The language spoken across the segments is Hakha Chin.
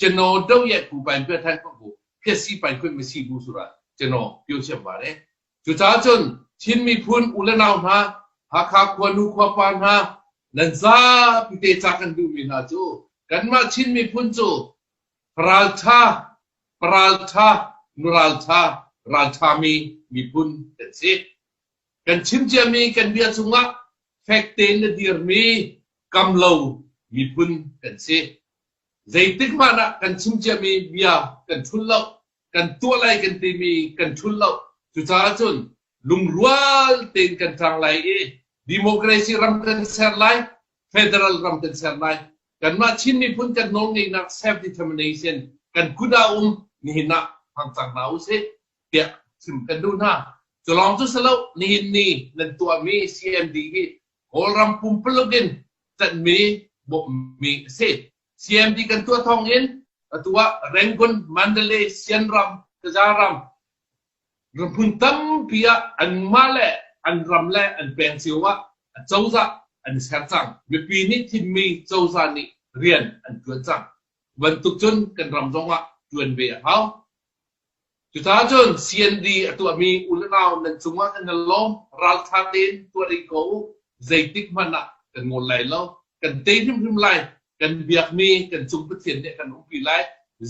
Cano do ye pu pai pyo than ko bu thesi pai khun mi si bu sura cano pyo siam ba le cu ca cun Chin miphun u le nau hna Hakha khua nu khua pa hna nan za pite ca kan duh mi hna cu kanmah Chin miphun cu raltha paraltha nuraltha raltha mi miphun kan si kan chim cia mi kan bia chungah fek tein na dir mi kam lo miphun kan si Zeitik hmanh ah kan chim ciami bia kan ṭhulh lo, kan tuah lai kan timi kan ṭhulh lo. Cucaah cun lungrual tein kan ṭang lai i democracy ram kan ser lai, federal ram kan ser lai. Kanmah Chin miphun kan nawlngeihnak self determination kan kut ah um nihin ah hmang cang hna u sih tiah chim kan duh hna. Cu lawng cu si lo, nihin ni nan tuahmi CND hi Kawlram pumpaluk in ttanhmi bawmhmi a si. CMD kan tuah thawng in atu ah Rangoon, Mandalay, Sianram, Tazaram ramphun tampi ah anmah le an ram le an peng cio ah cozah an i ser cang. Mipi nih thimmi cozah nih rian an tuan cang. Bantuk cun kan ram zong ah tuan ve a hau. Cucaah cun CND a tuahmi unau nan cungah nan i lawm. Ralṭha tein tuah rih ko u. Zeitik hmanh ah kan ngol lai lo. Kan tei hrimhrim lai. Kan biakmi kan cung Pathian nih a kan ukpi lai.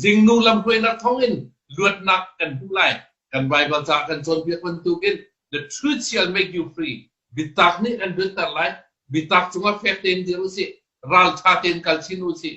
Zingnu lamhruainak thawngin luatnak kan hmuh lai. Kan Baibal caah kan cawnpiak bantukin The truth shall make you free. Biatak nih kan luatter lai. Biatak cungah fek tein dir u sih. Ralṭha tein kal chin u sih.